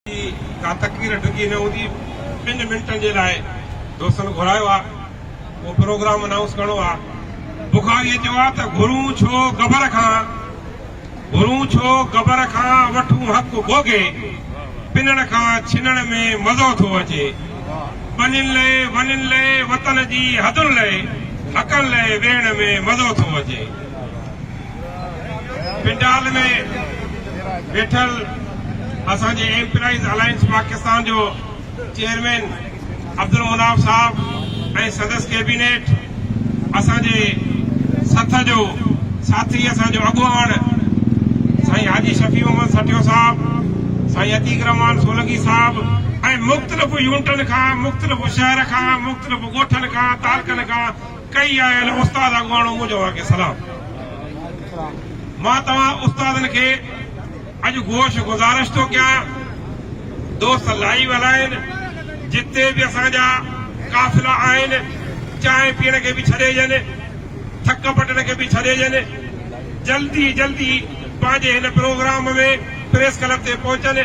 جي ڪا تڪبير ڊگهي نه هوندي ٻن منٽن جي لاء دوستن گهرايو آ ڪو پروگرام انائونس ڪرڻو آ بخاري چيو آ ته گهرون ڇو گبر کان گهرون ڇو گبر کان وٺون حق گوگي پنڻ کان ڇنڻ ۾ مزو ٿو اچي ٻنين لئه ونين لئه وطن جي حدن لئه حقن لئه ويهڻ ۾ مزو ٿو اچي. پنڊال ۾ ويٺل اسان جي ايمپلائيز الائنس پاڪستان جو چيئرمين عبدالمناف صاحب ۽ سندس ڪيبينيٽ اسان جي سٿ جو ساٿي اسان جو اڳواڻ سائين حاجي شفيع محمد سٺيو صاحب سائين عتيق رحمان سولنگي صاحب ۽ مختلف يونٽن کان مختلف شهر کان مختلف ڳوٺن کان تعلقن کان ڪئي آيل استاد اڳواڻو منهنجوار کي سلام. مان توهان استادن کي اڄ گوش گذارش ٿو ڪيان دوست لائيو هلائين جتي به اسان جا قافلا آهن چانهه پيئڻ کي به ڇڏيجن ٿڪ پٽڻ کي به ڇڏيجن جلدي جلدي پنهنجي هن پروگرام ۾ پريس ڪلب تي پهچن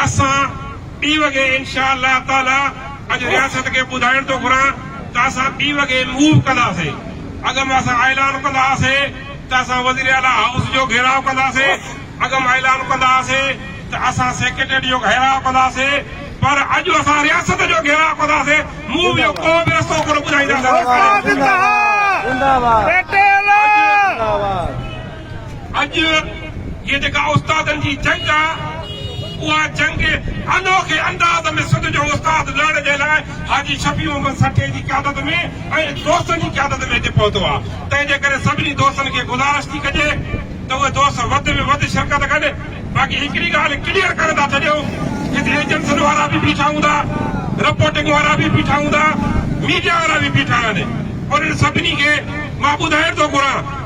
اسان ٻي وڳي انشاء الله تعاليٰ اڄ رياست کي ٻڌائڻ ٿو گهران ته اسان ٻي وڳي موو ڪنداسين اڳ ۾ اسان اعلان ڪندا هئاسين ته اسان وزيراعليٰ هائوس جو گهيراء ڪنداسين اڳ ۾ اعلان ڪندا هئاسين ته اسان سيڪريٽريٽ جو گهيراء ڪنداسين پر اڄ اسان رياست جو گهيراء ڪنداسين موو جو ڪو به رستو ڪونه ٻڌائينداسين سرڪاري اڄ جي جيڪا استادن جي جنگ آ اها جنگ انوکي انداز ۾ سنڌ جو استاد لڙڻ جي لاء حاجي شفيع محمد سٺي جي قيادت ۾ ۽ دوستن جي قيادت ۾ هتي پهتو آ تنهن جي ڪري سڀني دوستن کي گذارش ٿي ڪجي ته اهي دوست وڌ ۾ وڌ شرڪت ڪن باقي هڪڙي ڳالهه ڪليئر ڪري ٿا ڇڏيون هتي ايجنسن وارا به بيٺا هوندا رپورٽنگ وارا به بيٺا هوندا ميڊيا وارا به بيٺا آهن انهن سڀني کي مان ٻڌائڻ ٿو گهران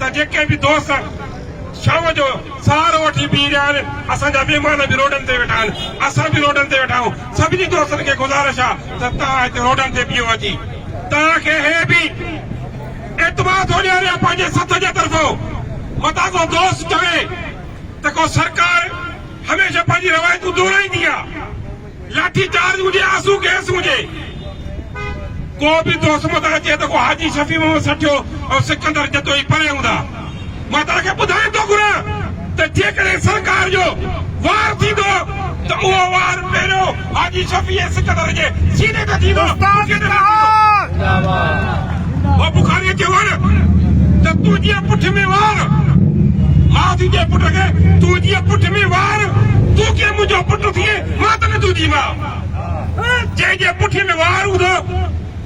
ته جيڪي به دوست شام جو سهارو وٺي بيهي رهيا آهن، اسان جا مهمان به روڊن تي ويٺا آهن، اسان به روڊن تي ويٺا آهيون، سڀني دوستن کي گذارش آهي ته توهان هتي روڊن تي بيهو اچي توهان کي هي به اعتماد ٿو ڏياريان پنهنجي سٿ جي طرفون متان ڪو دوست چوي ته ڪو سرڪار هميشه پنهنجي روايتون دهرائيندي آهي. لاٺي چارج هجي آنسو گئس هجي ڪو به دوست متان اچي ته ڪو حاجي شفيع محمد سٺيو ۽ سڪندر جتوئي پري هوندا مان توهان کي ٻڌائڻ ٿو گهران ته جيڪڏهن سرڪار جو وار ٿيندو ته اهو وار پهريون حاجي شفيع ۽ سڪندر جي سيني تي ٿيندو. استاد جناب. زنداباد. او بخاريء کي وڙ ته تون جيئن پٺ ۾ وار ماڌ جي پٽ کي تون جيئن پٺ ۾ وار تون ڪيئن منهنجو پٽ ٿئين مان ته نه تنهنجي ماء جنهن جي پٺ ۾ وار هوندو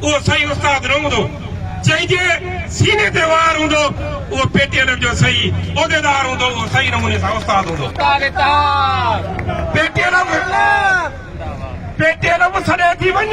اهو سائين استاد نه هوندو جنهن جي سيني تي وار هوندو اهو پيٽيلر جو سهي عهديدار هوندو اهو سهي نموني سان استاد هوندو پيٽيلر پيٽيلر سڏي ٿي وڃ